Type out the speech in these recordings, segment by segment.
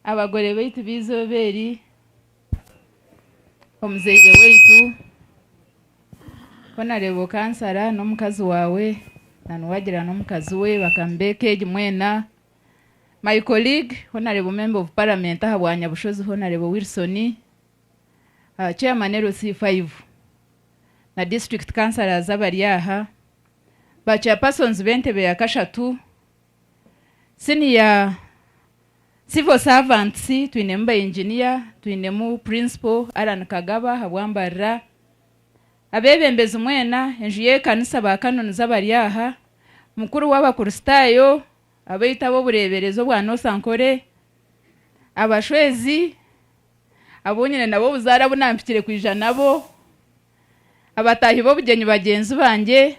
abagore baitu b'eizooba eri, omuzaire waitu, honourable kansara n'omukazi waawe na niwagira n'omukazi we bakamubeeka egi mwena, my colleague honourable member of parliament aha bwa Nyabushozi honourable Wilson, chairman LC five na district councillors abari aha, ba chairpersons b'entebe ya kashatu. Siniya Civil Servants twinemu ba Engineer, twinemu Principal Allan Kagaba ahabw'ambarira, abebembezi mwena, enju y'ekanisa ba Canons abari aha, mukuru w'abakuristaayo, abaitu ab'obureeberezi obwa North Ankole, abashwezi, abu nyine nabo obuzaare abu nampikire kwija nabo, abataahi b'obugyenyi bagyenzi bangye,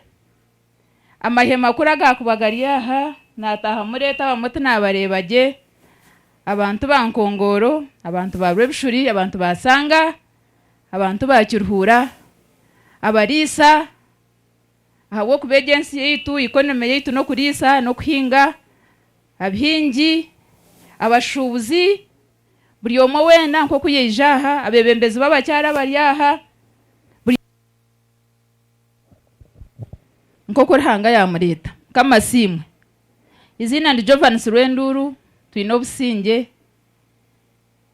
Amahema kuri agaakuba gari aha, naataaha mureeta abamwe tinaabareeba gye, abantu ba nkongooro, abantu ba Rwebishuri, abantu ba Sanga, abantu ba Kiruhura, abariisa, ahabw'okuba egi ensi yaitu, economy yaitu n'okuriisa n'okuhinga, abihingi, abashuubuzi, buri omwe weena nk'oku yaija aha, abeebembezi b'abakyara bari aha, buri. nk'oku Ruhanga yaamureeta. Mukama asiimwe. Eiziina ndi Jovans Rwenduuru, twine obusingye.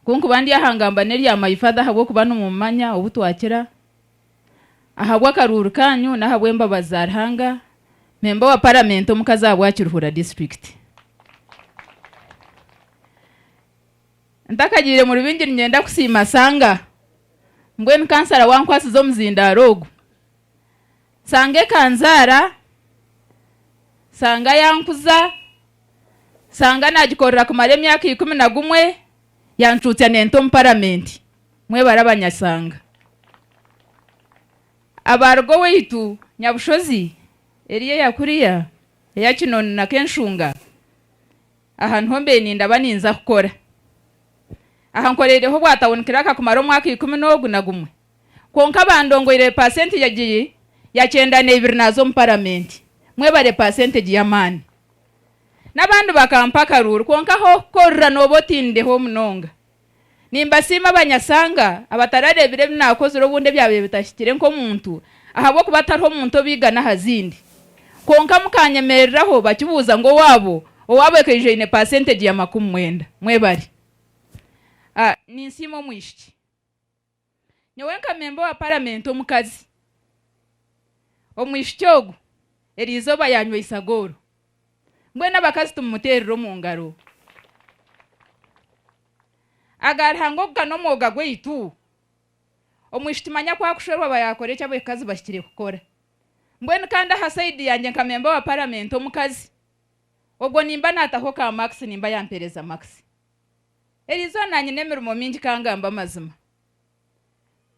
Ku nkuba ndi aha ngamba n'erya My Father ahabw'okuba nimumumanya obu twakira. Ahabw'akaruuru kaanyu n'ahabw'embabazi za Ruhanga, mpemba owa Paramenti omukazi aha bwa Kiruhura Disiturikiti. Ntakagiire mu rubingyi ninyenda kusiima Sanga mbwenu kansara wankwasize omuzindaaro ogu. Sanga ekanzaara, Sanga yankuza, Sanga nagikorera kumara emyaka ikumi na gumwe yancuutsya nenta omu paramenti. Mwebare abanyasanga. Abaaruga owaitu Nyabushozi, Eria eya kuriya, eya Kinoni na Kenshunga. Aha niho mbaire nindaba ninza kukora. Aha nkoreireho obwa tawuni kiraka kumara omwaka ikumi n'ogu na gumwe kwonka bandongoire pasentegi egiri ya kyenda na ibiri naaza omu paramenti. Mwebare pasentegi y'amaani. N'abandi bakampa akaruuru kwonka ah'okukorera nooba otindiho munonga. Nimbasiima abanyasanga abatarareebire ebi naakozire obundi ebyabaire bitahikire nk'omuntu ahabw'okuba tariho muntu obaigana aha zindi. Kwonka mukaanyemereraho bakibuuza ngu owaabo owaabo ekaijo aine paasentegi ya makumi mwenda. Mwebare. Ninsiima omwishiki. Nyowe nka memba owa paramenti omukazi, omwishiki ogu eriizooba yaanyweisaga oru. Mbwenu abakazi tumumuteerire omu ngaro. Aga Ruhanga ogu ka n'omwoga gwaitu? Omwishiki manya ku akushwerwa aba yaakora eki abakazi bahikire kukora. Mbwenu kandi aha saidi yangye nka memba owa paramenti omukazi, ogwo nimba naataho ka makisi nimba yampeereza makisi. Eriizooba nyine emirimo mingi ka ngambe amazima.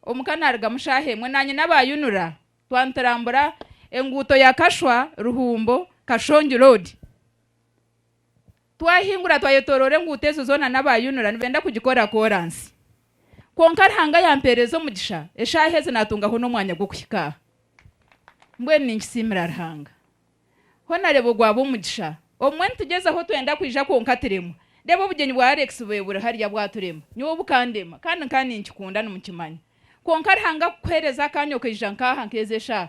Omuka naarugamu shaaha emwe naanye n'abaayunura twanturambura enguuto ya Kashwa, Ruhumbo, Kashongi Road. Twahingura twayetooroora enguuto ezo zoona n'abaayunura nibenda kugikora kooransi. Kwonka Ruhanga yampeereza omugisha eshaaha ezi naatungaho n'omwanya gw'okuhika aha. Mbwenu ninkisiimira Ruhanga. Hona reba ogwaba omugisha. Obumwe nitugyezaho twenda kwija kwonka turemwa. Reba obugyenyi bwa Alex bube buri hariya bwaturema. Nyowe bukandema. Kandi nkaba ninkikunda nimukimanya. Kwonka Ruhanga kukuhereza akanya okaija nkaha nkezi eshaha.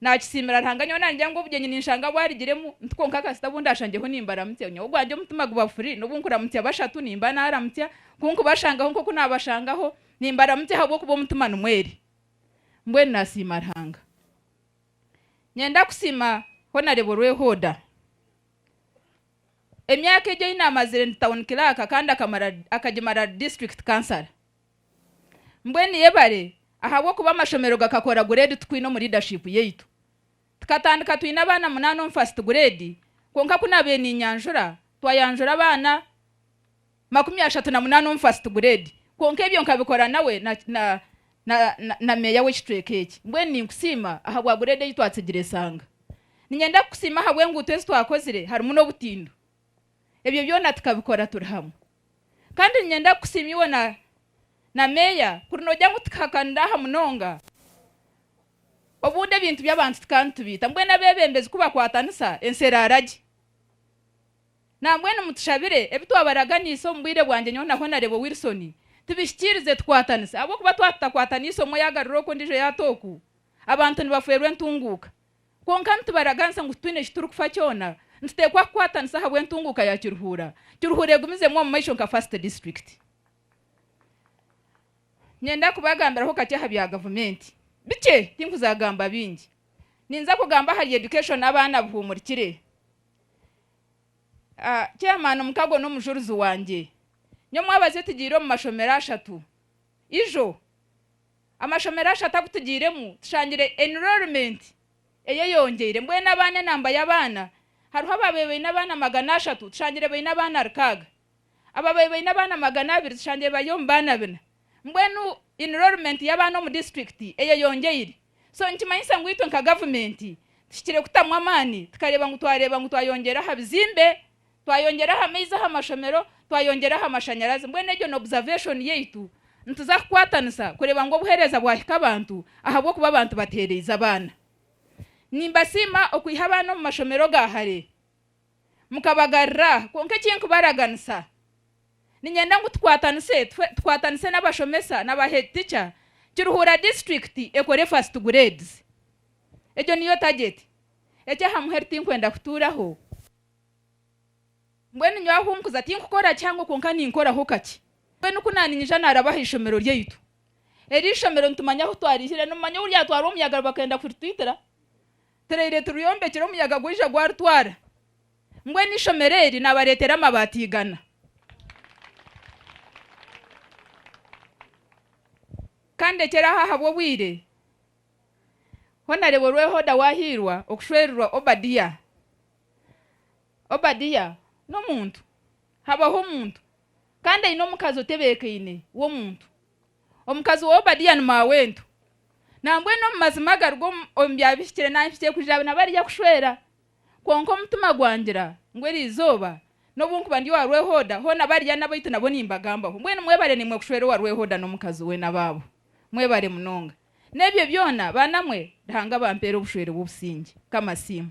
Nakisiimira Ruhanga nyowe nagira ngu obugyenyi ninshanga bwarigiremu nti kwonka kasita bu ndashangyeho nimbaramutsya. Nyowe ogwangye omutima guba furi nobu nkuramutsya bashatu nimba naramutsya ku nkubashangaho nkoku nabashangaho nimbaramutsya ahabwokuba omutima nimwo eri. Mbwenu nasiima Ruhanga. Nyenda kusiima ho nareeba orwehoda. Emyaka egi eyi namazire ndi town clerk kandi akamara akagimara ari district councillor. Mbwenu yebare ahabw'okuba amashomero gakakora grade tukwine omu leadership yaitu. Tukatandika twine abaana munaana omu first grade kwonka ku nabaire ninyanjura twayanjura abaana. makumi ashatu na munaana omu fasiti gureedi, kwonka ebyo nkabikora nawe na, na, na, na, na meeya w'ekicweka eki. Mbwenu ninkusiima ahabwa gureedi ei twatsigire esanga. Niinyenda kukusiima ahabw'enguuto ezi twakozire, harimu n'obutindo. Ebyo byona tukabikora turi hamwe. Kandi niinyenda kukusiima iwe na, na meeya, kuri noogira ngu tukahakanira aha munonga. Obundi ebintu by'abantu tukaba nitubiita, mbwenu abeebembezi ku bakwatanisa, ensi eraara gye. Nambwenu mutushabire, ebi twabaraganiise omu bwire bwangye nyowe na Honarebo Wilson tubihikirize tukwatanise ahabw'okuba twa tutakwatanise omwe yagarura oku ondijo yata oku, abantu nibafwerwa entunguuka. Kwonka nitubaraganisa ngu titwine eki turi kufa kyona, nitutekwa kukwatanisa ahabw'entunguuka ya Kiruhuura. Kiruhuura egumizemu omu maisho nka first district. Ninyenda kubagambiraho kakye aha bya gavumenti. Bikye, tinkuza gamba bingi. Ninza kugamba ahari education abaana buhumurikire. Chairman Mukago n'omujurizi wangye. Nyowe mwabazi otugiire omu mashomero ashatu. Ijo, amashomero ashatu agu tugiiremu tushangire enrollment eyeyongyeire. Mbwenu abaana enamba y'abaana hariho abaabaire baine abaana magana ashatu tushangire baine abaana rukaaga. Abo abaabaire baine abaana magana abiri tushangire bari omu baana bina. Mbwenu enrollment y'abaana omu disiturikiti eyeyongyeire. So nikimanyisa ngu itwe nka gavumenti tuhikire kutamu amaani tukareeba ngu twareeba ngu twayongyera aha bizimbe, twayongyera aha maizi aha mashomero, twayongyera aha mashanyarazi. Mbwenu egyo ni observation yaitu. Nituza kukwatanisa kureeba ngu obuheereza bwahika abantu ahabw'okuba abantu bateereize abaana. Nimbasiima okwiha abaana omu mashomero ga hare. Mukabagarura. Kwonka eki nkubaraganisa, niinyenda ngu tukwatanise, tukwatanise n'abashomesa na ba head teacher, Kiruhura district ekore first grades. Egyo niyo target. Eky'aha muheru tinkwenda kutuuraho. Mbwenu nyowe ahu nkuza tinkukora kihango kwonka ninkoraho kakye. Mbwenu ku naaniinyija naaraba aha ishomero ryaitu. Eri ishomero nitumanya ahu twariihire. Nimumanya ou ryatwarwa omuyaga bakenda kuritwitira? Turaire turyombekire omuyaga gwaija gwaritwara. Mbwenu eishomero eri nabareetera amabaati igana. Ka ndekere aho ahabw'obwire. Honareebo Rwehoda wahiirwa okushwererwa Obadia. Obadia n'omuntu. Habaho omuntu. Kandi aine omukazi otebeekaine w'omuntu. Omukazi wa Obadiya ni maawe wentu. Nambwenu omu mazima agaruga omu byabihikire nanhikire kuja na bariya kushwera. Kwonka omutima gwangira ngu eri izooba, n'obu nkuba ndi owa Rwehoda, hoona bariya n'abaitu nabo nimbagambaho. Mbwenu mwebare nimwe kushwera owa Rwehoda n'omukazi we n'abaabo. Mwebare munonga. N'ebyo byona, baana mwe, Ruhanga abampeere obushwere bw'obusingye. Mukama asiimwe.